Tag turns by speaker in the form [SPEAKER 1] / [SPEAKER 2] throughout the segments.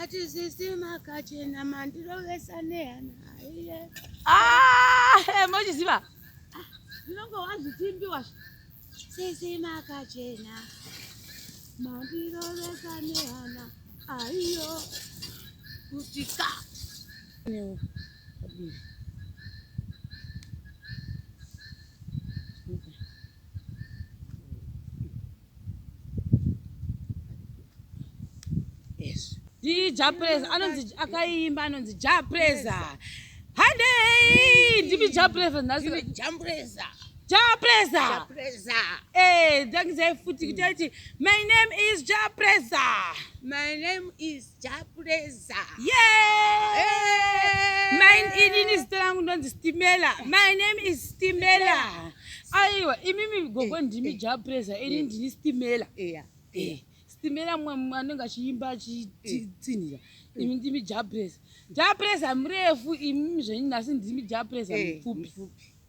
[SPEAKER 1] Ati
[SPEAKER 2] sisi makachena mandirovesa nehana aiye. Ah,
[SPEAKER 1] eh, mochiziva. Ah, ndinonge
[SPEAKER 2] wazvitimbiwa. Sisi makachena mandirovesa nehana aiyo kuti ka. Nyo.
[SPEAKER 1] Dii Japreza anonzi akaimba anonzi Japreza. Handei ndimi Japreza nhasi. Jampreza.
[SPEAKER 2] Japreza.
[SPEAKER 1] Jampreza.
[SPEAKER 2] Eh, ndangizai futi
[SPEAKER 1] kuti aiti my name is Japreza. My name
[SPEAKER 2] is Jabuleza.
[SPEAKER 1] Yeah. Hey. Mine inini zita rangu ndonzi Stimela. My name is Stimela. Aiwa imimi gogo eh, ndimi eh. Jabuleza ini eh. ndini Stimela. Yeah. Yeah. Stimela mwe anenge achiimba achitsinira. Imi ndimi Jabuleza. Jabuleza mrefu imimi zvenyu nasi ndimi Jabuleza mfupi.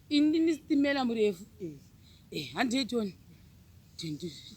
[SPEAKER 1] Ini ndini Stimela mrefu. Eh. Eh, handiitoni. Tindizvi.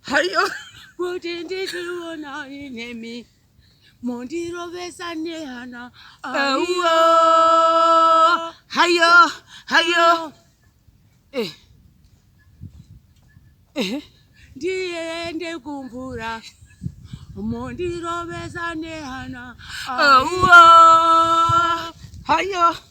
[SPEAKER 1] Hayo. Kuti
[SPEAKER 2] ndichionani nemi. Mondirovesa nehana. Hayo.
[SPEAKER 1] Hayo. Hayo. Eh. Eh.
[SPEAKER 2] Ndiende kumvura. Mondirovesa nehana. Hayo.
[SPEAKER 1] Hayo.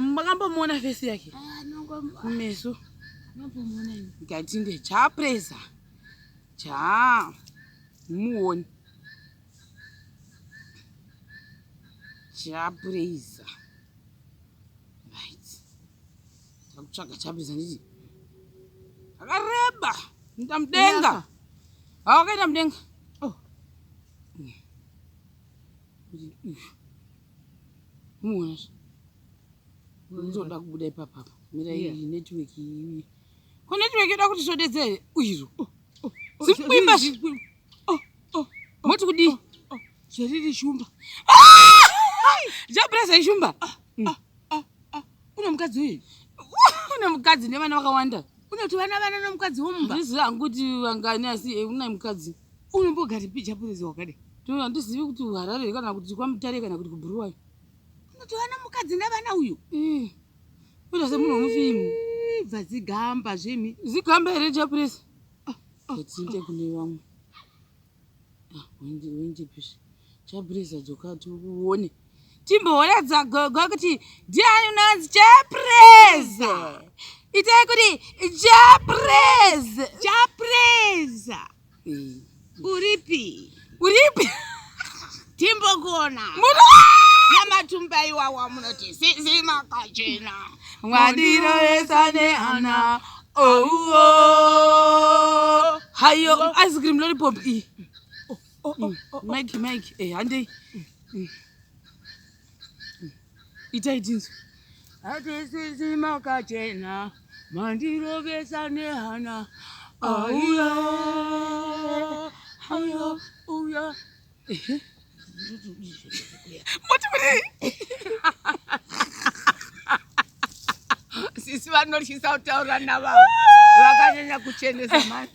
[SPEAKER 1] makambomuona fesi yake ah, meso
[SPEAKER 2] ndikati ndechapresa
[SPEAKER 1] chaa muoni chapresa right takutsvaga chapresa nditi akareba nda mudenga awakaita mudenga oh. Muwasha. Ndoda kubuda ipapa apa. Mira yeah. iyi network iyi. Ko network yoda kuti sodedze here? Uyiro. Oh, oh, oh, Zikuimba zvi. Oh, oh, Moti kudi? Oh, oh. Zveriri shumba. Ah! Jabreza ishumba. Ah, mm. ah, ah,
[SPEAKER 2] ah. Una mukadzi uyu. Una
[SPEAKER 1] mukadzi nevana vakawanda. Una kuti vana vana
[SPEAKER 2] nomukadzi womumba. Ndizvo anguti
[SPEAKER 1] vangani asi eh, una mukadzi. Unombogari pija
[SPEAKER 2] purezi wakadai. Tino handizivi kuti
[SPEAKER 1] uharare kana kuti kwamutare kana kuti kubhuruwayo. Unoti vana
[SPEAKER 2] mukadzi ndavana uyu. Eh.
[SPEAKER 1] Unoita semunhu wemufimu. Ibva zigamba
[SPEAKER 2] zvimi. Zigamba here chapurezi?
[SPEAKER 1] Ah, ah, Etsinte ah. kune vamwe. Ah, wendi wendi pisi. Chapurezi adzoka ati uone. timbohoradza gogo kuti ndiani unonzi chapreza itai kuti chapreza
[SPEAKER 2] chapreza eh. uripi uripi timbokona namatumba iwawa munoti zizi makachena mwadirovesa
[SPEAKER 1] neana ouwo hayo ice cream lollipop iyi oh. Oh, oh, oh, mike mike eh, handei itai tinzwi hatisisi
[SPEAKER 2] makachena mandirovesa nehana auya auya uya moti mudei sisi vanotyisa kutaura navavo vakanyanya kuchenesa mani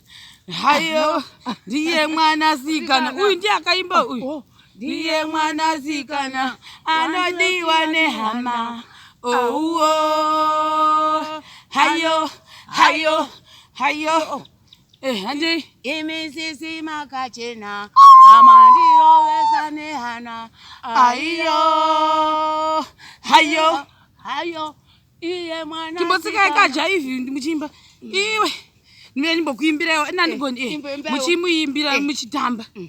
[SPEAKER 2] hayo
[SPEAKER 1] ndiye mwana sikana uyu ndiye akaimba uyu oh, ndiye mwana sikana anodiwa nehama ouwo oh, oh. hayo hayo hayo Eh, handei imi sisi
[SPEAKER 2] makachena amandirovesa nehana aiyo hayo hayo iye mwana timbotsikai kajaivi
[SPEAKER 1] muchimba iwe ndive ndimbokuimbiraiwo inandigoni eh, muchimuimbira eh. muchitamba mm.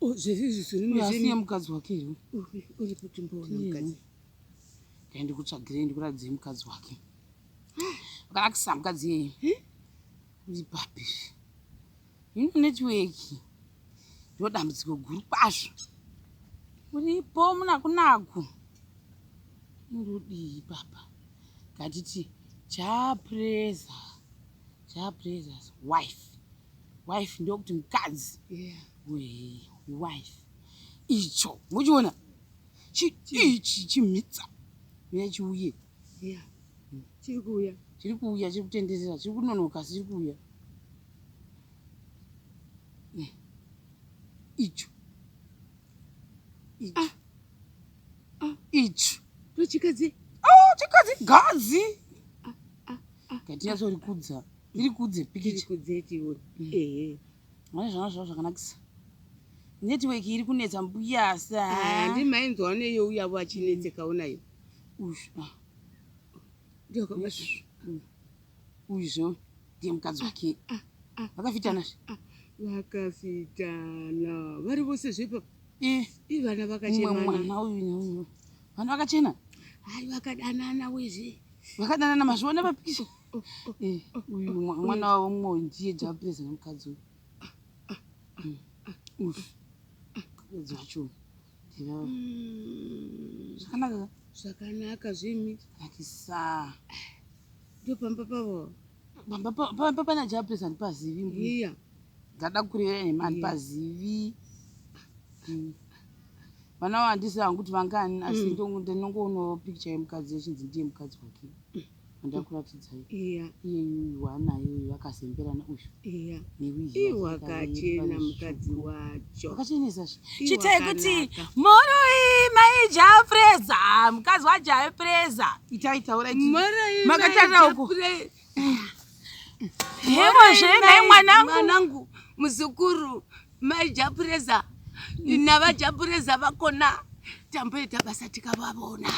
[SPEAKER 1] Oh, zvese izvi zviri Uyu asi machine. nemukadzi wake here Uri- uri kuti
[SPEAKER 2] mboona mukadzi. dai
[SPEAKER 1] ndikutsvagirei ndikuratidzei mukadzi wake vakanakisa mukadzi iyeye uri papi ino netiweki ndiro dambudziko guru kwazvo uripo munakunaku ndodii papa ngatiti chapreza chaprezas wife wife ndokuti mukadzi yeah. wife icho muchiona ichi chimhitsa uya chiuye yeah. mm.
[SPEAKER 2] chiri kuuya chiri kuuya chiri
[SPEAKER 1] kutenderera chiri kunonoka asi chiri kuuya mm. icho icho ah.
[SPEAKER 2] ah. icho tochikadzi oh, chikadzi
[SPEAKER 1] gadzi ah, ah, ah, gatinyatsorikudza ah, ah. Iri kudze pikicha. Iri kudze tiwe. Mm. Ehe. Mwana zvana zvavo zvakanakisa. Network iri kunetsa mbuya sa. Ah, ndi mainzwa ne yo
[SPEAKER 2] uya wa chinetse mm. kaona yo. Ush. Ah. Ndio kama
[SPEAKER 1] shu. Mm. Ujo. Ndiye mkadzi ah, wake. Ah, ah, Vakafitana. Ah, ah. Vakafitana.
[SPEAKER 2] Vari vose zvepa. Eh. Ivana vakachena. Mwana uyu ne uyu.
[SPEAKER 1] Vana vakachena. Hai
[SPEAKER 2] vakadanana wezve. Vakadanana mazviona
[SPEAKER 1] papikicha. Eh, uyu mwa- mwana wavo mumwe uyu ndiye japresa nemukadzi uyu Mm. Uff. mukadzi wacho uyu. Ndivavo. Mm,
[SPEAKER 2] zvakanaka ka? zvakanaka
[SPEAKER 1] zvimi
[SPEAKER 2] nakisa
[SPEAKER 1] ndopamba
[SPEAKER 2] pavo pamba pa- pa-
[SPEAKER 1] pa- pana japresa handipazivi mbuya iya
[SPEAKER 2] ndada kurevera
[SPEAKER 1] nhema handipazivi Mm. vana vandisi hangu kuti vangani asi Mm. ndongo- ndinongoonawo picture yemukadzi yechinzi ndiye mukadzi wake andakuratidzai iya iye
[SPEAKER 2] yuyu waanayo
[SPEAKER 1] uyu vakazemberana uyu iya iwakachena
[SPEAKER 2] mukadzi wacho akachenesa
[SPEAKER 1] chitai kuti moroi maijafreza mukadzi wajafreza itai taura makatarira
[SPEAKER 2] uko
[SPEAKER 1] hevo zvenai
[SPEAKER 2] mwanangu muzukuru mai japureza navajapureza vakona tamboita basa tikavavona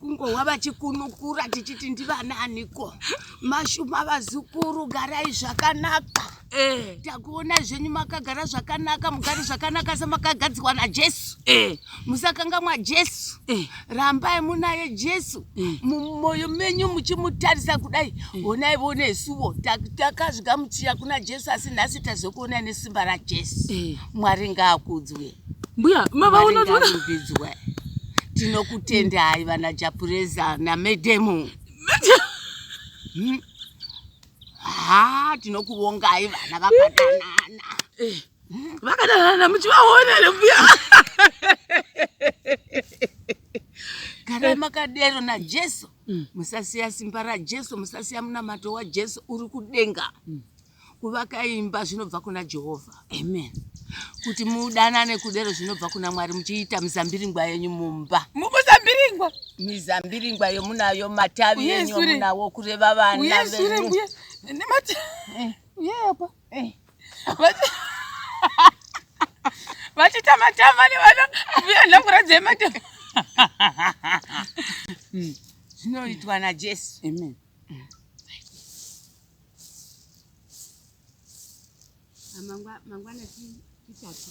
[SPEAKER 2] kungohwa vachikunukura tichiti ndivanaaniko mashuma vazukuru garai zvakanaka eh. takuona zvenyu makagara zvakanaka mugari zvakanaka semakagadzirwa najesu eh. musakangamwa jesu eh. rambai munaye jesu eh. mumoyo menyu muchimutarisa kudai eh. onai vonesuvo takazvigamuchira kuna jesu asi nhasi tazokuona nesimba rajesu eh. mwari ngaakudzwe mbuya
[SPEAKER 1] mavaonaovidzwe
[SPEAKER 2] tinokutendai vana japureza namedemu hmm? ha tinokuvongai vana vakadanana eh.
[SPEAKER 1] vakadanana muchivaona here mbuya
[SPEAKER 2] gara makadero najesu mm. musasiya simba rajesu musasiya munamato wajesu uri kudenga mm. kuvaka imba zvinobva kuna jehovha amen
[SPEAKER 1] kuti
[SPEAKER 2] mudanane kudero zvinobva kuna mwari muchiita mizambiringwa yenyu mumba mukuzambiringwa
[SPEAKER 1] mizambiringwa
[SPEAKER 2] yomunayo matavi yenyu yomunawo kureva vana venyu
[SPEAKER 1] vachitamatama nevana mbuya nhangura dzematama hmm.
[SPEAKER 2] zvinoitwa najesu amen mangwana titatu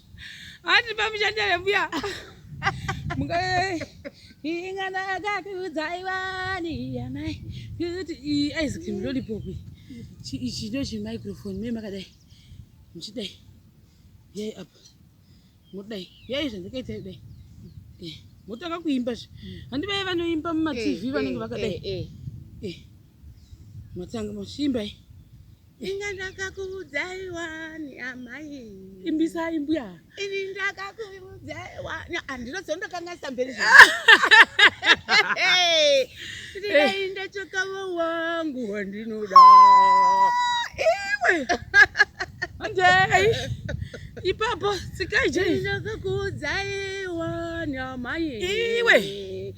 [SPEAKER 1] Ati pamushandira mbuya. Mungai. Ingana akakuudza ivani yanai. Kuti ice cream lollipop. Ichi ndo chi microphone me makadai. Muchidai. Yai apa. Mudai. Yai zvandikaita kudai. Eh. Motanga kuimba zve. Handi vaye vanoimba muma TV eh, vanenge eh, vakadai. Eh. Eh. Motanga moshimba. Eh. Inga
[SPEAKER 2] ndakakuudzai wani amai. Imbisai mbuya.
[SPEAKER 1] Ini ndakakuudzai
[SPEAKER 2] wani. Ah, ndinoziva ndokangaisa mberi zvangu. Ndidai ndachakava wangu wandinoda. Iwe.
[SPEAKER 1] Andei. Ipapo sikai jei. Ndakakuudzai
[SPEAKER 2] wani amai. Iwe.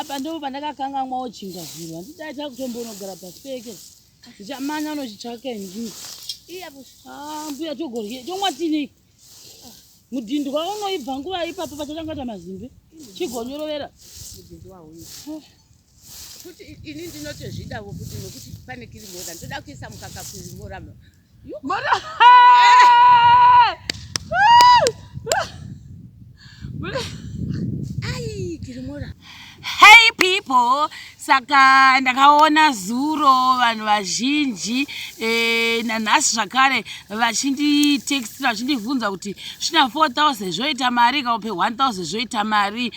[SPEAKER 1] apa ndo pandakakangamwawo chinga zviro handidaita kutombonogara paseke ndichamanya unochitsvaka ndii ah, mbuya togorye tomwa tinei mudhindi wavo unoibva nguva ipapo pachatanga ta mazimbe chigonyorovera mudhindi
[SPEAKER 2] wauyo kuti ini ndinotozvidawo kuti nokuti pane kirimora ndoda kuisa mukaka kurimora mora ai kirimora hey
[SPEAKER 1] people saka ndakaona zuro vanhu vazhinji e, nanhasi zvakare vachinditextira vachindibvunza kuti svina 4000 zvoita mari kaupe 1000 zvoita mari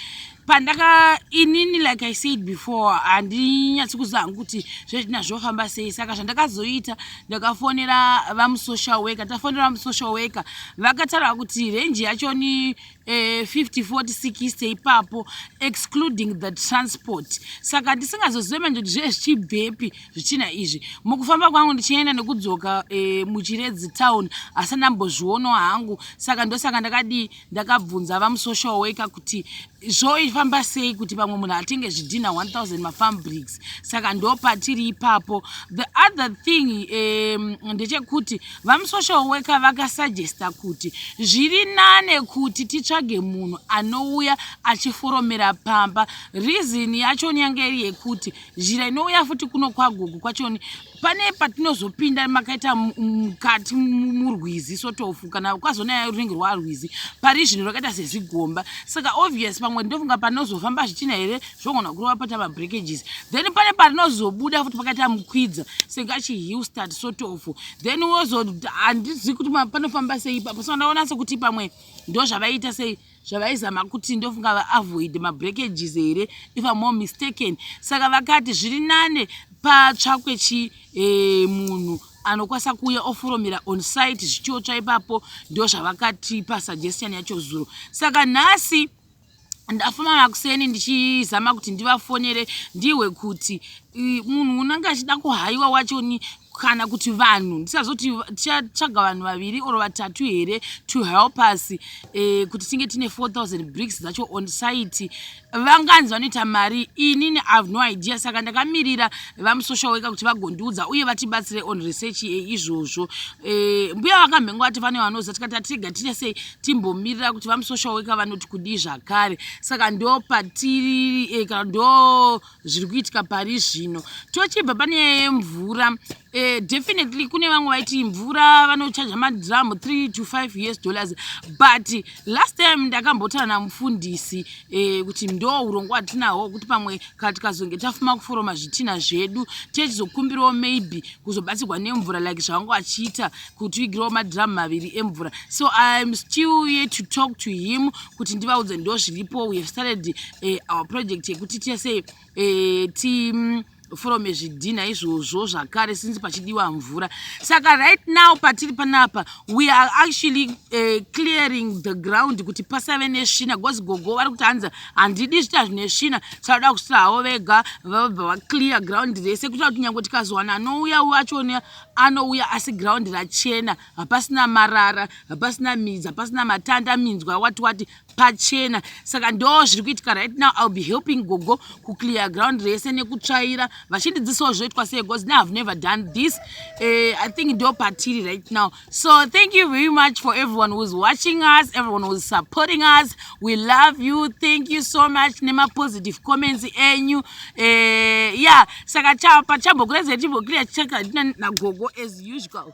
[SPEAKER 1] pandaka inini like i said before handinyatsi kuziva hangu kuti zvezvina zvofamba sei saka zvandakazoita ndakafonera vamusocial worker tafonera vamusocial worker vakataura kuti renji yacho ni 5460 eh, ipapo excluding the transport saka ndisingazozive manje kuti zvee zvichibvepi zvichina izvi mukufamba kwangu ndichienda nekudzoka eh, muchiredzi town asi ndambozvionawo hangu saka ndosaka ndakadii ndakabvunza vamusocial worker kuti zvoifamba sei kuti pamwe munhu atenge zvidhinha 1000 mafambrigs saka ndopatiri ipapo the other thing um, ndechekuti vamusocial worker vakasuggesta kuti zviri nane kuti titsvage munhu anouya achiforomera pamba reason yachoni yange iri yekuti zhira inouya futi kuno kwagogo kwachoni pane patinozopinda makaita mukati murwizi sotofu kana kwazonaya runenge rwarwizi pari zvinhu rwakaita sezigomba saka obvious pamwe ndofunga panozofamba zvichina here zvogona kurova paita mabreakages then pane parinozobuda futi pakaita mukwidza senge achihill start sotofu then wozo handizivi kuti panofamba sei ipapo so ndaona sekuti pamwe ndozvavaiita sei zvavaizama kuti ndofunga vaavoid mabreakages here if am more mistaken saka vakati zviri nane patsvakwe chi eh, munhu anokwanisa kuuya oforomera on site zvichiotsva ipapo ndo zvavakatipa suggestion yacho zuro saka nhasi ndafuma makuseni ndichizama kuti ndivafonere ndihwe kuti munhu unenge achida kuhaiwa wachoni kana kuti vanhu ndisazoti tichatsvaga vanhu vaviri or vatatu here to help us eh, kuti tinge tine 4000 bricks dzacho on site vanganzi vanoita mari inini ihave no idea saka ndakamirira vamusocial worker kuti vagondiudza uye vatibatsire on research yeizvozvo eh, mbuya vakamhengo vati vane vanoza tikati atirega tine sei timbomirira kuti vamusocial worker vanoti kudii zvakare saka ndo patiri eh, kana ndo zviri kuitika pari zvino tochibva pane nyaya yemvura eh, definitely kune vamwe vaiti mvura vanochaja madram 3 to 5 years dollars but last time ndakambotana namufundisi eh, kuti ndo urongo watinahwo wekuti pamwe kana tikazonge tafuma kuforoma zvitina zvedu techizokumbirawo maybe kuzobatsirwa nemvura like zvavanga vachiita kuti uigirawo madram maviri emvura so iam still ye to talk to him kuti ndivaudze ndo zviripo we have started eh, our project yekuti tese eh, ti mm, forome zvidhinha izvozvo zvakare since pachidiwa mvura saka right now patiri panapa we are actually uh, clearing the ground kuti pasave nesvina because gogo vari kuti hanzi handidi zvita zvine svina saaoda kusvira havo vega vabva vaclear ground rese kuitira kuti nyange tikazowana anouya uyo achone anouya asi ground rachena hapasina marara hapasina midzi hapasina matanda minzwa wati wati pachena saka ndo zviri kuitika right now ill be helping gogo kuclear ground rese nekutsvaira vachindidzisawo zvoitwa sei bcause now have never done this uh, i think ndo patiri right now so thank you very much for everyone whois watching us everyone whois supporting us we love you thank you so much nemapositive comments enyu uh, eh, ya yeah. saka pachambokuraiza timboclear chaka nagogo as usual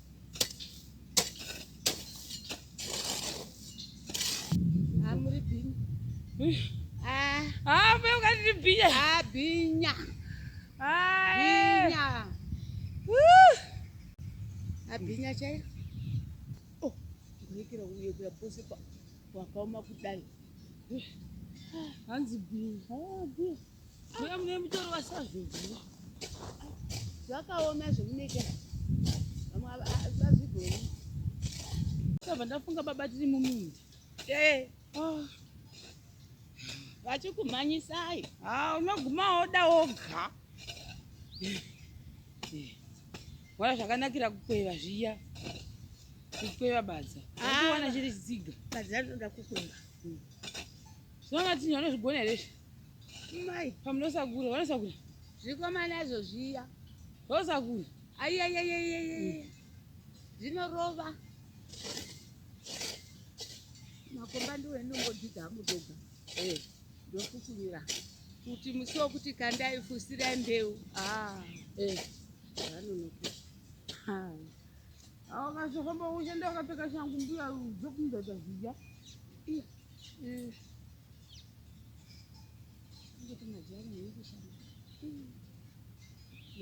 [SPEAKER 2] abhinya chairo oh, kurekera kuyekura pose pakaoma kudai hanzi
[SPEAKER 1] bhinya Mbuya mune mutori wasazvinzwa. Zvakaoma
[SPEAKER 2] zvemuneke. Vamwe vazvigoni.
[SPEAKER 1] Ndabva ndafunga baba tiri mumindi. Eh. Oh.
[SPEAKER 2] Vachikumhanyisai. Ah, unoguma woda
[SPEAKER 1] woga. Wala zvakanakira kukweva zviya. Kukweva badza. Ah. Unoona chiri chitsiga. Badza rinoda kukweva. Hmm. Zvona tinhu anozvigona here izvi? Mai,
[SPEAKER 2] pamunosakura,
[SPEAKER 1] vanosakura. Zvikomana izvo
[SPEAKER 2] zviya. Zvosakura.
[SPEAKER 1] Ayayayayayaya.
[SPEAKER 2] Zvinorova. Makomba ndiwo enongodzidza amudoga. Eh, ndofukunyira. Kuti musi wokuti kandai fusirai mbeu. Ah, eh. Vanonoka.
[SPEAKER 1] Ha. Awo kasokomba ushanda wakapfeka shangu mbuya dzokumudza zviya.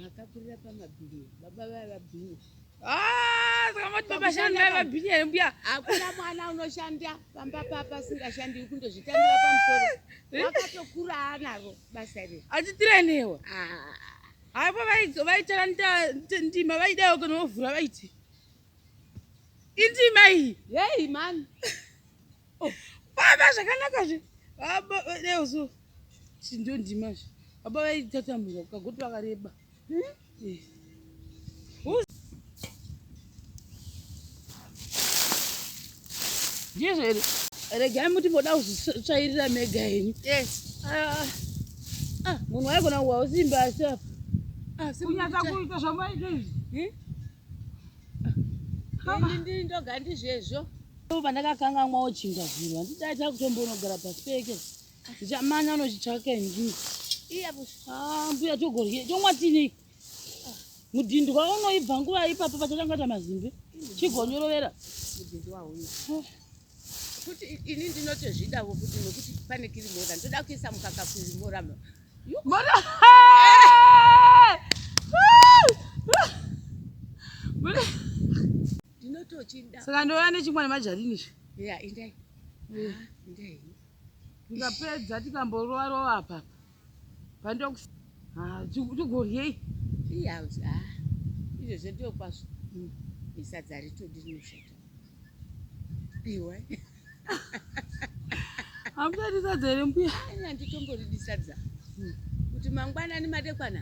[SPEAKER 2] makakurira pamabhini baba vaya vabhini ah,
[SPEAKER 1] sakamuti baba shani vaya vabhini here mbuya hakuna mwana
[SPEAKER 2] unoshanda pamba papa singashandi kundozvitambira pamusoro eh? wakatokura anaro basa iri achitirenewa
[SPEAKER 1] ah. haipo vaitaura ndima vaidawo kana vovhura vaiti indima iyi yei mani
[SPEAKER 2] oh, baba
[SPEAKER 1] zvakanaka zve baba deozo chindo ndima zve baba vaitatamurwa kukagoti vakareba hmm? eh. ndizvo here regai muti moda kuzvitsvairira mega henyu ah, ah, munhu waigona kuwa usimba asi apa ah, kunyatsa
[SPEAKER 2] kuita zvamaita izvi hmm? ndiri ndoga ndizvezvo pandakakangamwawo
[SPEAKER 1] chinga zviro handidaita kutombonogara paseke ndichamana unochitsvaka inzvimbo mbuya togorye tomwa tinei mudhindwa unoibva nguva ipapo pachatangata mazimbe chigonyorovera mudhindwa
[SPEAKER 2] uyu kuti ini ndinotozvidawo kuti nokuti pane kirimora ndoda kuisa mukaka kurimora mora ndinotochida saka ndova nechimwa
[SPEAKER 1] nemajarini izvi ya indai
[SPEAKER 2] ndai
[SPEAKER 1] ndikapedza tikamborova rova apapa pandox tugoryei iyaus
[SPEAKER 2] a izvo zvedio kwazvo hmm. isadza ritodi rinoshata iwe
[SPEAKER 1] hamuchadi sadza here mbuya anyanditomboridisa
[SPEAKER 2] dza hmm. kuti mangwanani madekwana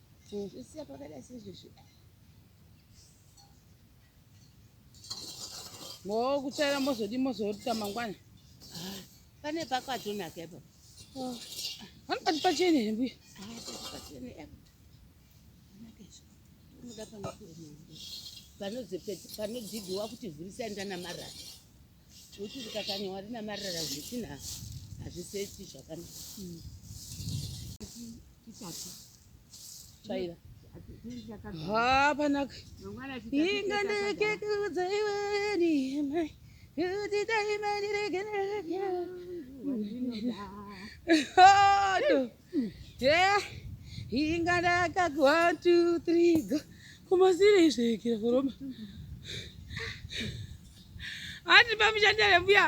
[SPEAKER 2] Tinozvisiya pakadai sezvizvi.
[SPEAKER 1] Ngowo kutsvaira mozodi mozorita mangwana.
[SPEAKER 2] Pane pakwatonaka ipo. Oh.
[SPEAKER 1] Panopati pachene here mbuya? Ah, pachene
[SPEAKER 2] ipo. Unoda panokuwa mbuya. Panodzipiwa kuti vhurisai ndana marara. Kuti rikakanywa rina marara zvisina hazviseti zvakanaka. Mm.
[SPEAKER 1] Kitatu. Chaiva. Haa panaka. Inga ndekekudza iwe ndiyema. Kuti daima ndiregereke. Haa. Yeah, inga ndakati one two three go kumasire izvekira kuroma hati pamushandira mbuya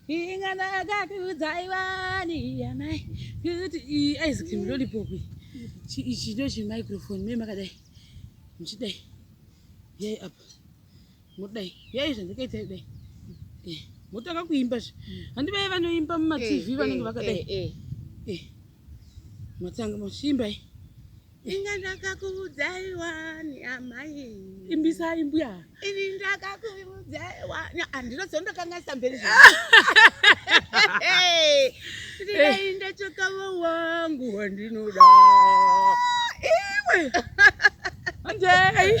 [SPEAKER 1] inga ndakakuudzai vani yanai kuti ice cream lollipop ichi ndo chimicrofone me makadai muchidai yai apa mudai yai zvandakaita dai eh, motanga kuimba zve handi vaye vanoimba mumatv eh, vanenge eh, vakadai matanga machimbai inga
[SPEAKER 2] ndakakuudzai wani amai imbisai mbuya
[SPEAKER 1] ini
[SPEAKER 2] ndakakuudzai wani andinozondokanga samberi ndidai ndachokavo wangu wandinoda iwe
[SPEAKER 1] anjei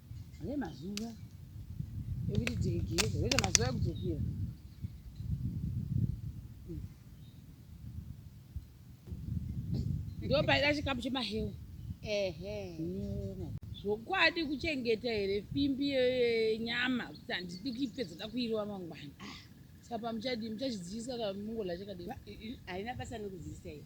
[SPEAKER 1] Ane mazuva ekuti tigeze, wete mazuva ekudzokera. Ndo paida chikapu chemahewa. Ehe. Zvokwadi kuchengeta here fimbi yenyama kuti handidi kuipedza da kuirova mangwana. Saka muchadii muchachidziisa kana mungorya chakadii? Haina basa
[SPEAKER 2] nekudziisa iyo.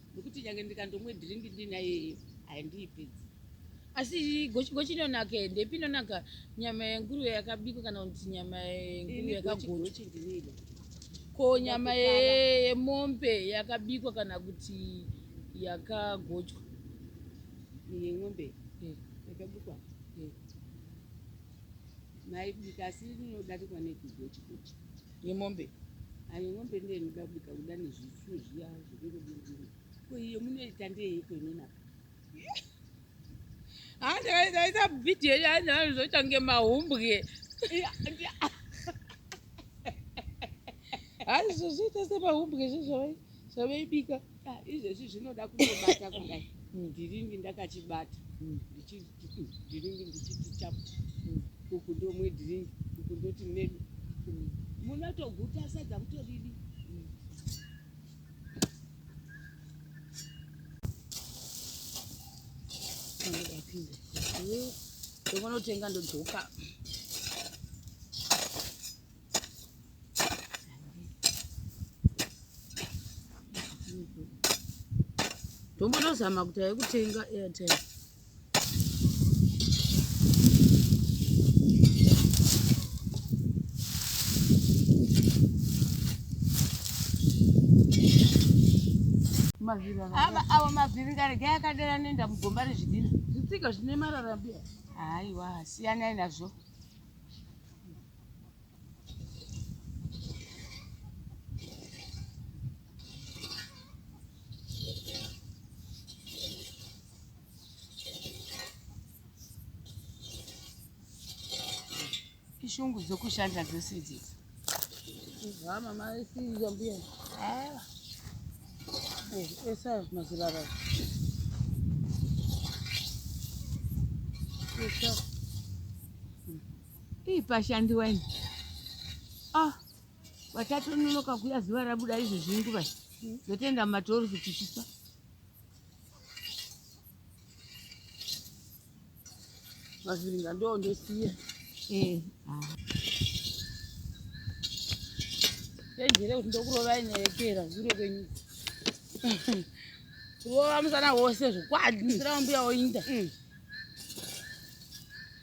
[SPEAKER 2] nokuti nyange ndikandomwe dhiringi ndinayeyo haindiipedzi asi
[SPEAKER 1] gochi inonaka e ndepi inonaka nyama yenguruve yakabikwa kana kuti nyama yenguruve yakagochi ko nyama yemombe yakabikwa kana kuti yakagochwa
[SPEAKER 2] yemombe eh. yakabikwa eh. maibika asi inodarikwa nekugochi gochi Yemombe.
[SPEAKER 1] Ayo mombe
[SPEAKER 2] ndiye inoda kubika kuda nezvichu zviya zvekungodindini. Ko iyo munoita ndeyeiko imweni apa?
[SPEAKER 1] Ah, ndakaita video ya nalo zoita nge mahumbwe. Hayi zvozoita se mahumbwe zvezvo. Zvavaibika ah, izvezvi
[SPEAKER 2] zvinoda kutobata kudai ndiringi ndakachibata ndiringi ndichiti chapu uku ndomwe dhiringi uku ndoti medu munotoguta sadza kutoridi
[SPEAKER 1] ndokonotenga ndodzoka tombonozama kuti ayekutenga airtime
[SPEAKER 2] awa mavhiringa rega yakadera nenda mugomba rezvidhina zvitsika zvine marara
[SPEAKER 1] mbiya haiwa
[SPEAKER 2] siyanai nazvo shungu dzokushanda dzose idzi
[SPEAKER 1] mama isiya mbuya ah. eh, esa mazirara
[SPEAKER 2] esa Ii pashandiwa ini. Ah, vatatononoka kuya zuva rabuda izvezvi nguva iyi. Zotenda matori kuti chifa.
[SPEAKER 1] Mavhiringa ndo ndosiya. Eh, ah. Tenjere kuti ndokurovai nerekera zure kwenyu. Kurova musana wose zvokwadi musina wambuya woinda.